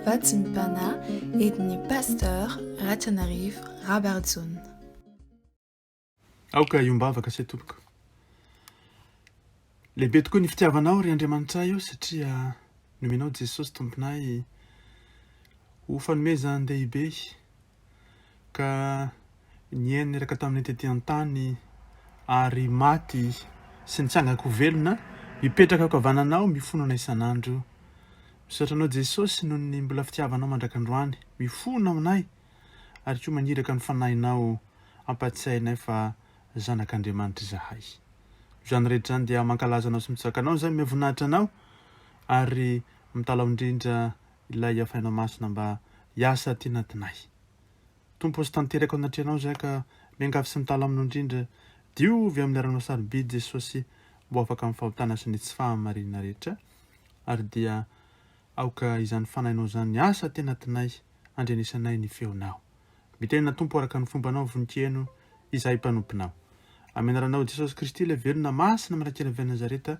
Vatsy ny Pana edin'ny Pasteur Ratranarivo Rabarijaona. Aoka hiombavaka say tompoko. Lehibe tokoa ny fitiavanao ry Andriamanitray o satria nomenao Jesosy Tomponay ho fanomezan-dehibe. ka niaina niraka tamin'ny tety an-tany ary maty sy nitsangako ho velona, mipetraka ankavanana ao, mifono anay isan'andro. Misaotra Anao Jesosy noho ny mbola fitiavanao mandrak'androany, mifono aminay ary koa maniraka ny Fanahinao hampatsiahy anay fa zanak'Andriamanitra izahay. Noho izany rehetra izany dia mankalaza Anao sy mitsaka Anao izahay, miavoninahitra Anao ary mitalaho indrindra Ilay hafaina masina mba hiasa aty anatinay. Tompo sy tanteraka ao anatrehanao izahay ka miangavy sy mitala aminao indrindra, diovy amin'ny ranao sarobidy Jesosy mba ho afaka amin'ny fahotana sy ny tsy fahamarinana rehetra ary dia aoka izany fanahinao izany hiasa aty anatinay handrenesanay ny feonao. Mitenena Tompo araka ny fombanao vonikeno izahay mpanomponao. Amin'ny anaranao Jesosy Kristy ilay velona masina mirak'ila avy any Nazareta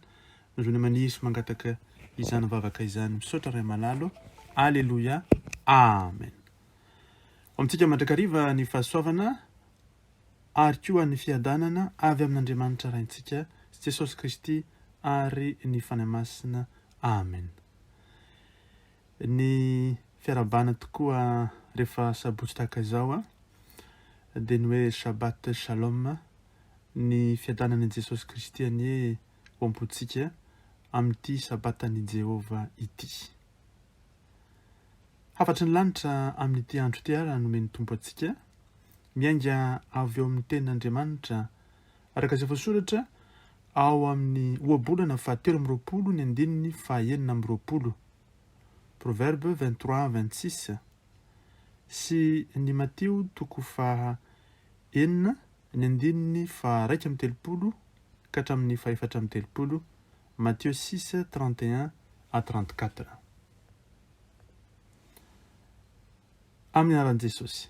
Nareo ny aman'i Yeso mangataka izany vavaka izany misaotra Ray malalo Aleloia Amen Ho amintsika mandrakariva ny fahasoavana ary koa ny fiadanana avy amin'Andriamanitra Raintsika sy Jesosy Kristy ary ny Fanahy Masina Amen Ny fiarahabana tokoa rehefa sabotsy tahaka izao a dia ny hoe Shabbat Shalom Ny fiadanan'i Jesosy Kristy anie ao am-pontsika amin'ity Sabatan'i Jehovah ity. Hafatry ny lanitra amin'ity andro ity àry nomen'ny Tompo antsika, miainga avy ao amin'ny Tenin'Andriamanitra. Araka izay voasoratra ao amin'ny Ohabolana fahatelo amby roapolo ny andininy fahenina amby roapolo, Proverbes 23, 26, sy ny Matio toko faha enina Ny andininy faharaika amby telopolo ka hatramin'ny fahefatra amby telopolo, Matthieu six, trente et un à trente quatre. Amin'ny anaran'i Jesosy.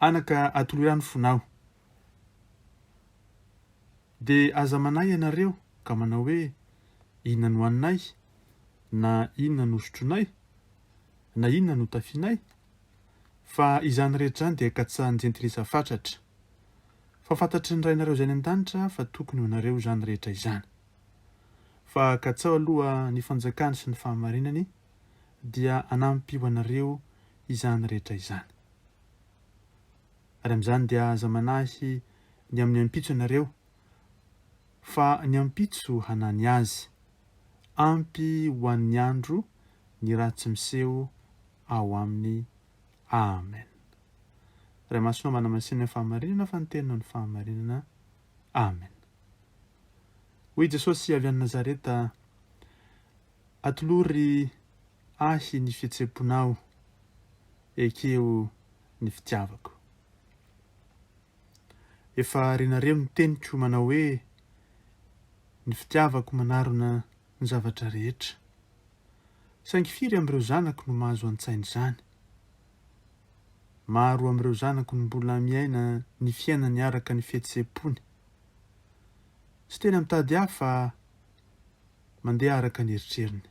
Anaka, atoloy ra ny fonao. Dia aza manahy ianareo ka manao hoe, Inona no haninay? na Inona no hosotronay? na Inona no hotafianay? fa izany rehetra izany dia katsahan'ny jentilisa fatratra. Fa fantatry ny Rainareo izay any an-danitra fa tokony ho anareo izany rehetra izany. Fa katsaho aloha ny fanjakany sy ny fahamarinany, dia hanampy ho anareo izany rehetra izany. Ary amin'izany dia aza manahy ny amin'ny ampitso ianareo, fa ny ampitso hanahy ny azy. Ampy ho an'ny andro ny raha tsy miseho ao aminy Amen. Ray Masina manamasinina ny fahamarinana fa ny Teny no ny fahamarinana. Amen. Hoy Jesosy avy any Nazareta, Atolory Ahy ny fihetseham-ponao, ekeo ny fitiavako. Efa renareo ny teniko manao hoe, Ny fitiavako manarona ny zavatra rehetra. Saingy firy amin'ireo zanako no mahazo an-tsaina izany? Maro amin'ireo zanako no mbola miaina ny fiainany araka ny fihetseham-pony. Tsy tena mitady ahy fa mandeha araka ny eritreriny.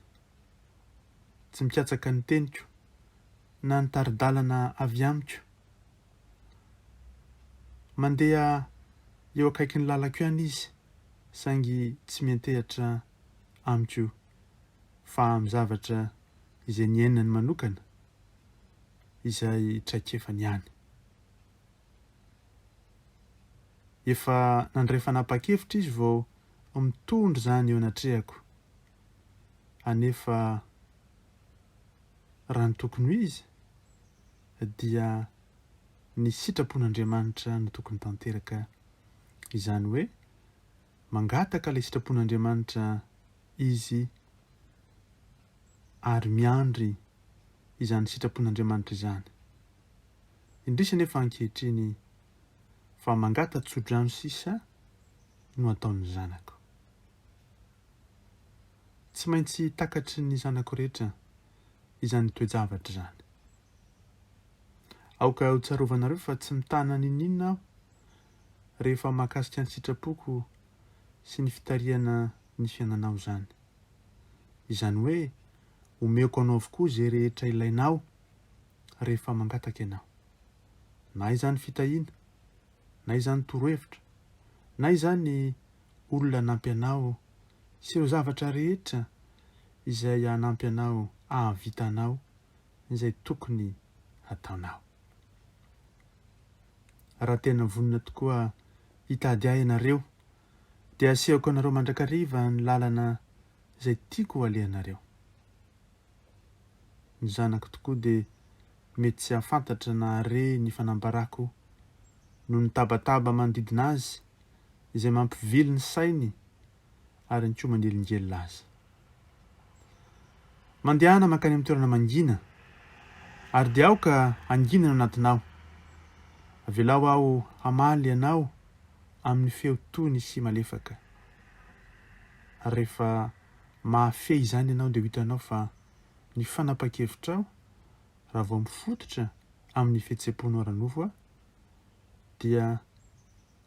Tsy mikatsaka ny teniko na ny tari-dalana avy amiko. Mandeha eo akaikin'ny lalako ihany izy saingy tsy miantehatra amiko fa amin'ny zavatra izay niainany manokana izay traikefany ihany. Efa nandray fanapahan-kevitra izy vao mitondra izany eo anatrehako, anefa raha ny tokony ho izy dia ny sitrapon'Andriamanitra no tokony tanteraka izany hoe mangataka ilay sitrapon'Andriamanitra izy ary miandry izany sitrapon'Andriamanitra izany. Indrisy anefa ankehitriny fa mangata tsodrano sisa no ataon'ny zanako. Tsy maintsy takatry ny zanako rehetra izany toe-javatra izany. Aoka hotsarovanareo fa tsy mitana n'inon'inona aho rehefa mahakasika an-tsitrapoko sy ny fitarihana ny fiainanao izany. Izany hoe omeko anao avokoa izay rehetra ilainao rehefa mangataka ianao. Na izany fitahiana, na izany torohevitra, na izany olona hanampy anao sy ireo zavatra rehetra izay hanampy anao hahavita anao izay tokony hataonao. Raha tena vonona tokoa hitady ahy ianareo, dia hasehoko anareo mandrakariva ny lalana izay tiako ho alehanareo. Ny zanako tokoa dia mety tsy hahafantatra na hahare ny fanambarako noho ny tabataba manodidina azy izay mampivily ny sainy ary ny koa manelingelina aza. Mandehana mankany amin'ny toerana mangina, ary dia aoka hangina ny anatinao. Avelao aho hamaly anao amin'ny feo tony sy malefaka. Ary rehefa mahafehy izany ianao dia ho hitanao fa ny fanapahan-kevitrao, raha vao mifototra amin'ny fihetseham-ponao ara-nofo, dia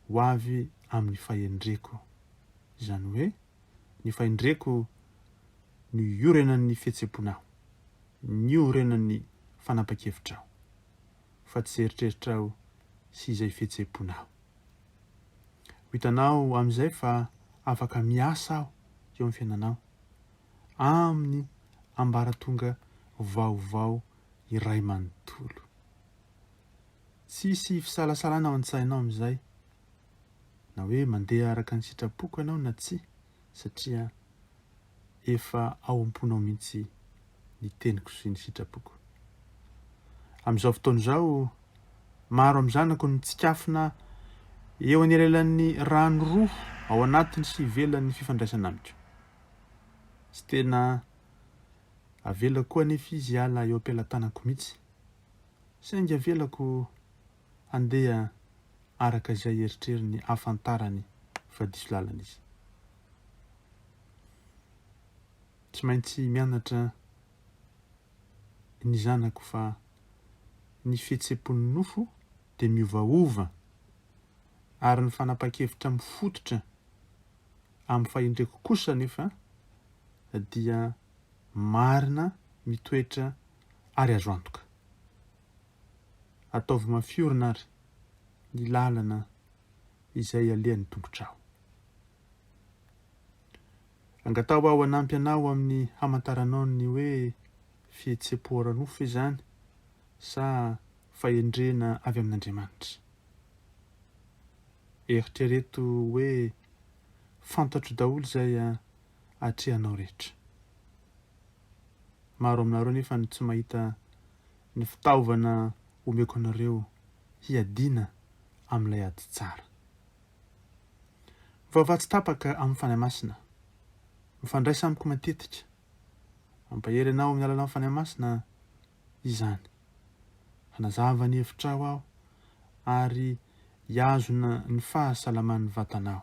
ho avy amin'ny fahendreko, izany hoe ny fahendreko no iorenan'ny fihetsem-ponao, niorenan'ny fanapa-kevitrao, fa tsy eritreritrao sy izay fihetsem-ponao. Ho hitanao amin'izay fa afaka miasa aho eo amin'ny fiainanao, amin'ny ambaratonga vaovao iray manontolo. Tsy hisy fisalasalana ao an-tsainao amin'izay na hoe mandeha araka ny sitrapoko ianao na tsia, satria efa ao am-ponao mihitsy ny teniko sy ny sitrapoko. Amin'izao fotoana izao, maro amin'ny zanako no mitsikafona eo anelanelan'ny rano roa ao anatiny sy ivelan'ny fifandraisana amiko. Tsy tena avelako koa anefa izy hiala eo am-pelatanako mihitsy. Saingy avelako handeha araka izay eritreriny hahafantarany fa diso lalana izy. Tsy maintsy mianatra ny zanako fa ny fihetseham-pon'ny nofo dia miovaova ary ny fanapahan-kevitra mifototra amin'ny fahendreko kosa anefa dia marina mitoetra ary azo antoka. Ataovy mafy orina àry ny lalana izay ialehan'ny tongotrao. Angataho aho hanampy anao amin'ny hamantaranao ny hoe fihetsem-po ara-nofo izany sa fahendrena avy amin'Andriamanitra. Eritrereto hoe, 'Fantatro daholo izay atrehanao rehetra. Maro aminareo anefa no tsy mahita ny fitaovana omeko anareo hiadiana amin'ilay ady tsara. Mivavaha tsy tapaka amin'ny Fanahy Masina. Mifandraisa amiko matetika. Mampahery anao amin'ny alalan'ny Fanahy Masina izany. Hanazava ny hevitrao aho ary hiazona ny fahasalaman'ny vatanao.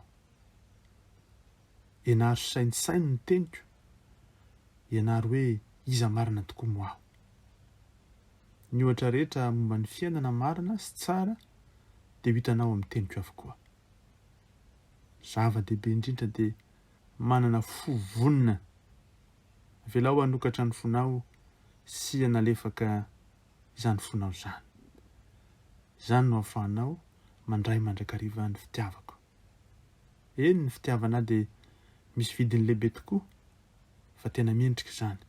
Ianaro saintsaino ny teniko, ianaro hoe iza marina tokoa moa aho. Ny ohatra rehetra momba ny fiainana marina sy tsara dia ho hitanao amin'ny teniko avokoa. Ny zava-dehibe indrindra dia manana fo vonona. Avelao hanokatra ny fonao sy hanalefaka izany fonao izany. Izany no ahafahanao mandray mandrakariva ny fitiavako. Eny, ny fitiavana dia misy vidiny lehibe tokoa, fa tena mendrika izany.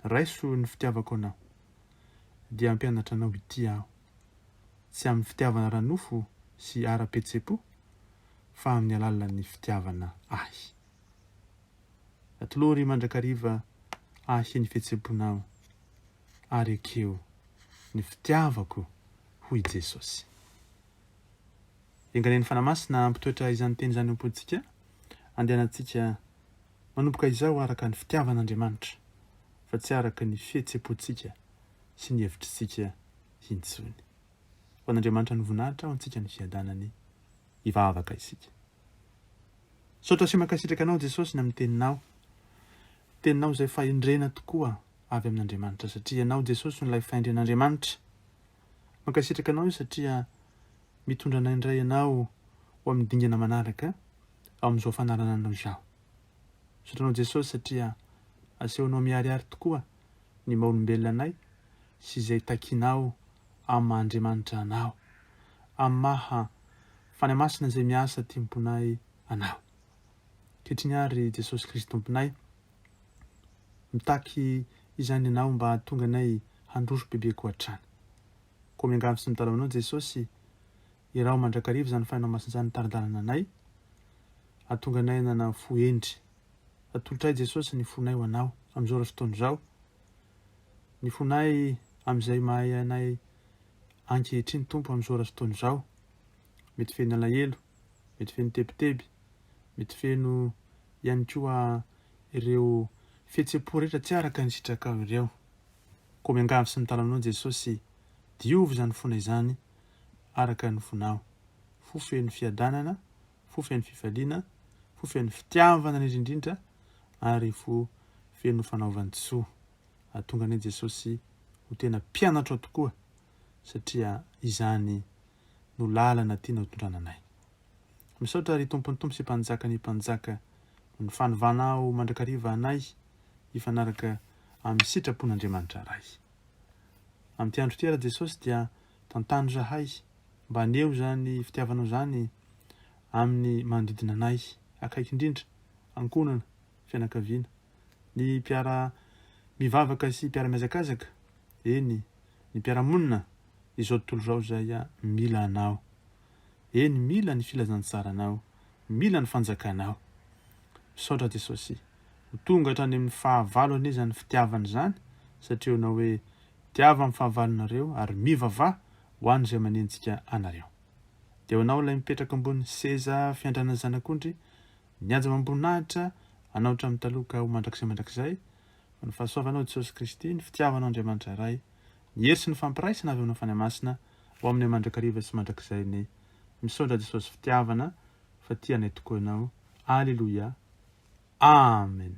Raiso ny fitiavako anao, dia hampianatra anao hitia aho. Tsy amin'ny fitiavana ara-nofo sy ara-pihetseham-po, fa amin'ny alalan'ny fitiavana Ahy. Atolory mandrakariva Ahy ny fihetseham-ponao, ary ekeo ny fitiavako, hoy i Jesosy. Engalen'ny Fanahy Masina hampitoetra izany teny izany ao am-pontsika. Andehanantsika manomboka izao araka ny fitiavan'Andriamanitra fa tsy araka ny fihetsem-pontsika sy ny hevitritsika intsony. Ho an'Andriamanitra ny voninahitra ho antsika ny fiadanany. Hivavaka isika. Misaotra sy mankasitraka Anao Jesosy ny amin'ny Teninao. Teninao izay fahendrena tokoa avy amin'Andriamanitra satria Ianao Jesosy no ilay fahendren'Andriamanitra. Mankasitraka anao satria mitondra anay indray ianao ho amin'ny dingana manaraka ao amin'izao fanarananao izaho. Misaotra anao Jesosy satria asehonao miharihary tokoa ny maha olombelona anay sy izay takinao amin'ny maha Andriamanitra anao, amin'ny maha Fanahy Masina izay miasa aty am-ponay anao. Ankehitriny ary Jesosy Kristy Tomponay. Mitaky izany ianao mba hahatonga anay handroso bebe koa hatrany. Koa miangavy sy mitalaho anao Jesosy, iraho mandrakariva izany fanahinao masina izany hitari-dalana anay, hahatonga anay hanana fo hendry. Atolotray Jesosy ny fonay ho anao amin'izao ora sy fotoana izao, ny fonay amin'izay mahay anay ankehitriny Tompo amin'izao ora sy fotoana izao, mety feno alahelo, mety feno tebiteby, mety feno ihany koa ireo fihetseham-po rehetra tsy araka ny sitrakao ireo. Koa miangavy sy mitala anao Jesosy, diovy izany fona izany araka ny fonao, fo feno fiadanana, fo feno fifaliana, fo feno fitiavana indrindra indrindra ary fo feno fanaovan-tsoa. Atonga anie Jesosy ho tena mpianatrao tokoa satria izany no lalana tiana ho tondrana anay. Misaotra ry Tompon'ny Tompo sy Mpanjakan'ny Mpanjaka noho ny fanovanao mandrakariva anay hifanaraka amin'ny sitrapon'Andriamanitra Ray. Amin'ity andro ity Ra Jesosy dia tantano zahay mba haneho izany fitiavanao izany amin'ny manodidina anay akaiky indrindra, ankohonana, fianakaviana, ny mpiara mivavaka sy mpiara mihazakazaka, eny, ny mpiara-monina izao tontolo izao izay mila anao. Eny, mila ny filazantsaranao, mila ny fanjakanao. Misaotra Jesosy. Ho tonga hatrany amin'ny fahavalo anie izany fitiavana izany, satria Ianao hoe, Tiavo amin'ny fahavalonareo, ary mivavaha ho an'izay manenjika anareo. Dia ho anao ilay mipetraka ambonin'ny seza fiandranan'ny Zanak'ondry, mihaja amam-boninahitra, anao hatramin'ny taloha ka ho mandrakizay mandrakizay, ny fahasoavanao Jesosy Kristy, ny fitiavanao Andriamanitra Ray, ny hery sy ny fampiraisana avy aminao Fanahy Masina ho aminay mandrakariva sy mandrakizay ny Misaotra Jesosy fitiavana fa tia anay tokoa Ianao Aleloia Amen.